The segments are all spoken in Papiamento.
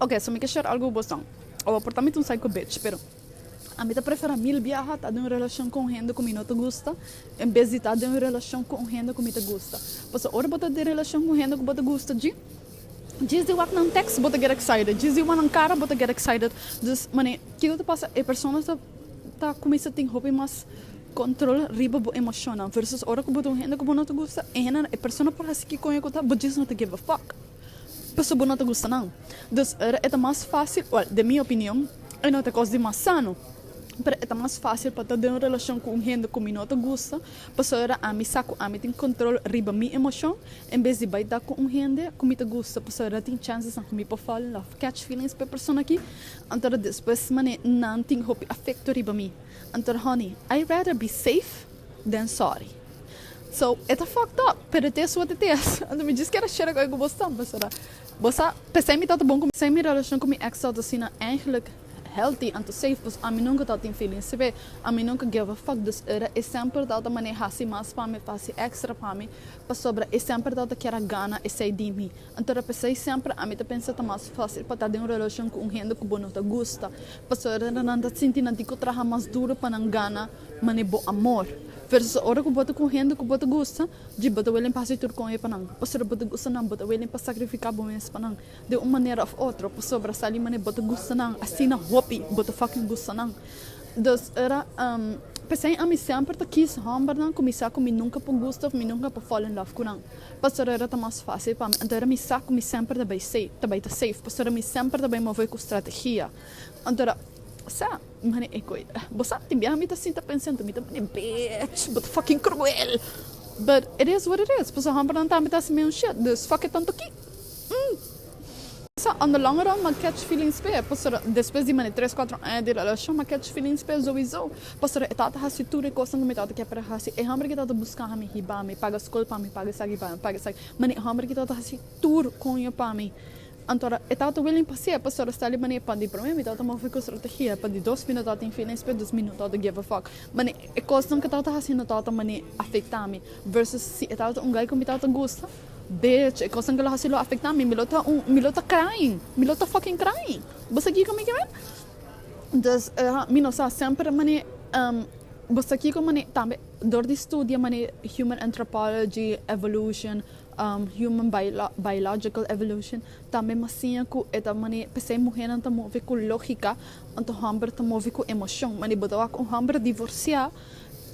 Oke, so mi ke share algu ku bosnan. Awor a por ta mi ta un psycho bitch, pero a mi ta prefera mil biaha ta den un relashon ku un hende ku mi no ta gusta en bes di ta den un relashon ku un hende ku mi ta gusta. Pasobra ora bo ta den relashon ku un hende ku bo ta gusta djin, djis di wak nan tèks bo ta get excited, djis di wan nan kara bo ta get excited. Dus, manera kiko ta pasa, e persona ta ta kuminsá tin hopi mas kòntròl riba bo emoshonnan, versus ora ku bo ta un hende ku bo no ta gusta, e hende, e persona por hasi kikoño ku ta, bo djis no ta give a fuck. Pasobra no ta gusta nan. Dus e ta mas fásil, wèl, den mi opinion, e no ta kos di mas sano, pero e ta mas fásil pa ta den un relashon ku un hende ku mi no ta gusta pasobra ami sa ku ami tin kontrol riba mi emoshon, en bes di bai ta ku un hende ku mi ta gusta pasobra tin chansesnan ku mi por fall in love, catch feelings, pa e persona aki, antora despues manera nan tin hopi afekto riba mi. Antora, honey, I rather be safe than sorry. So e ta fucked up pero e ta e suerte ties anto mi djis keda shera cu e cu bo stampa sora bo sa pesey mi tato bon cu pesey mi relacion cu mi ex tato asina eigenlijk healthy anto safe pues ami nunca tato tin feeling sibe ami nunca give a fuck dus era e semper tato mane hasi mas pa mi hasi extra pa mi pasobra e semper tato keda gana esey di mi anto ta pesey semper ami ta pensa ta mas facil pa ta den un relacion cu un hende cu bo no ta gusta pasobra nan ta sinti nan tin cu traha mas duro pa nan gana Mane bo amor. Verso sa ora ku bo ta ku hende ku bo ta gusta, dje bo ta welen pa hasi tur kon e pa nan. Pasobra bo ta gusta nan, bo ta welen pa sakrifiká bo mes pa nan den un manera òf otro, pasobra sali mane bo ta gusta nan, asina hopi bo ta fásil gusta nan. Dos ora, P'esei ami semper ta kis hòmbernan ku mi sa ku mi nunka por gusta òf mi nunka por fall in love ku nan, pasobra ora ta mas fásil pa mi. Anto ora mi sa ku mi semper ta bai ta safe, pasobra mi semper ta bai move ku strategia. Anto ora, sa. Mane Ecoy, bo sabi tin biaha mi ta sinta pensando, mi ta mane, Bitch, bo ta fucking cruel! But it is what it is, pasobra hombernan tambe ta hasi meun shit, dus fuck e tanto ki. Sa, on the longer run m'a catch feelings p'e, pasobra despues di mane tres cuatro aña di relacion m'a catch feelings p'e sowiso, pasobra e tabata hasi tur e cosnan cu mi tabata kier para hasi, e homber ki tabata busca mi, hiba mi, paga scol pa mi, paga esaki pa mi, paga esaki, mane e homber ki tabata hasi tur coño pa mi. Anto ora e tata William pasia, e pastor a sta li manera pa di promé minuto a ta move ku strategia, pa di dos minuto a ta infila en spet, dos minuto a ta geva fòk. Mane, e kosnan ku e tata ta hasi no tata mane afektá mi, versus si e tata ta un gai ku mi tata gusta, bech, e kosnan ku lo hasi lo afektá mi, mi lo ta un, mi lo ta crying, mi lo ta fucking crying. Bo sa kiko mi ke bai? Entonces, ha, mi no sa, semper mane, bo sa kiko mane, tambe dor di studia mane human anthropology, evolution, Human Biological Evolution tambe mos siña ku e ta manera p'esei muhernan ta move ku lógika, anto hòmber ta move ku emoshon. Manera bo ta wak un hòmber divorsiá,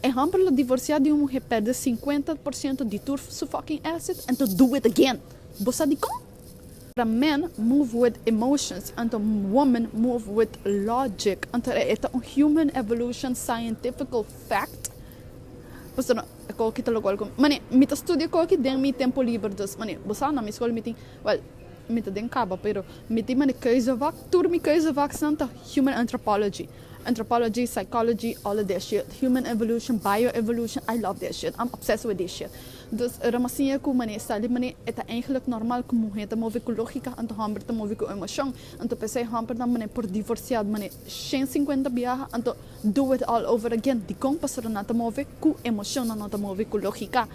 e hòmber lo divorsiá di un muher, pèrdè sinkuenta por siento di tur su fòking èsit, en to do it again! Bo sa dikon? Pasobra men move with emotions, anto woman move with logic. Anto e ta un human evolution scientifical fact. Pastor, Ko ki ta logual ku mi? Mane, Mi ta studia ko ki den mi tempu liber dus. Mane, Bo sa, na mi skol mi tin, wèl, mi ta den kaba, pero mi tin mane keuzevak. Tur mi keuzevaksnan ta Human Anthropology, Anthropology, Psychology, all of that shit, Human Evolution, Bio Evolution, I love that shit, I'm obsessed with this shit. Dus e rama siña ku mane sa li mane e ta eigentlik normal ku muhé ta move ku lógika, anto hòmber ta move ku emoshon. Anto p'esei hòmbernan mane por divorsiá mane shen sinkuenta biaha, anto. Do it all over again, dikon pastornan ta move ku emoshion nan no ta move ku logika.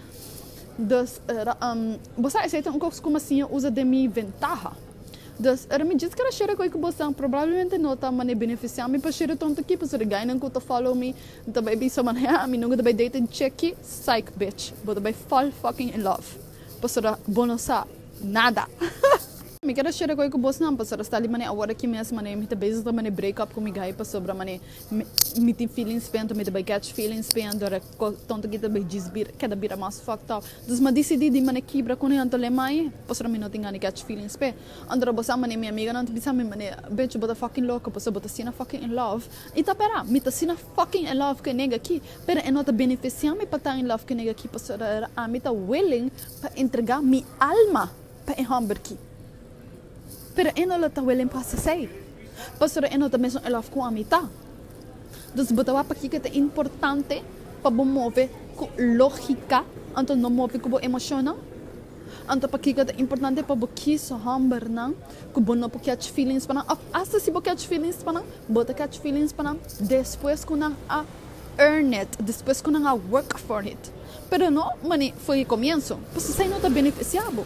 Dus bo sa esei ta un kos ku mi siña usa den mi ventaha. Dus ora mi djis kere share ku e ku bo sa, probablemente no ta mane benefisiá mi pa share tonto aki, pasobra gainan ku ta follow mi ta bai bisa manera mi nunka ta bai date en cheki, psych bitch, bo ta bai fall fucking in love, pasobra bo no sa nada. Mi keda share koe ku bosnan pasobra sta li manera awor aki mes manera mi ta bezig ta manera break up ku mi gai pasobra manera mi tin feelings p'e anto mi ta bai catch feelings p'e anto ora kos tonto aki ta bai djis bira keda bira mas fucked up dus m'a disidi di manera kibra kunan anto lei mai pasobra mi no tin gana di catch feelings p'e anto ora bo sa manera mi amiganan ta bisa mi manera bechi bo ta fucking loco pasobra bo ta asina fucking in love i ta pera mi ta asina fucking in love ku e nega aki pero e no ta benefisiami pa ta in love ku e nega aki pasobra ami ta willing pa entrega mi alma pa e hòmber ki. Pero e no lo ta welen pa asesei, pasobra e no ta mesun elof ku ami ta. Dus bo ta wak pakiko ta importante pa bo move ku lógika anto no move ku bo emoshonnan? Anto pakiko ta importante pa bo kis hòmbernan ku bo no por kèch feelings pa nan? Òf asta si bo kèch feelings pa nan, bo ta kèch feelings pa nan despues ku nan a earn it, despues ku nan a work for it. pero no mane for di comienso, pues esai no ta beneficia bo.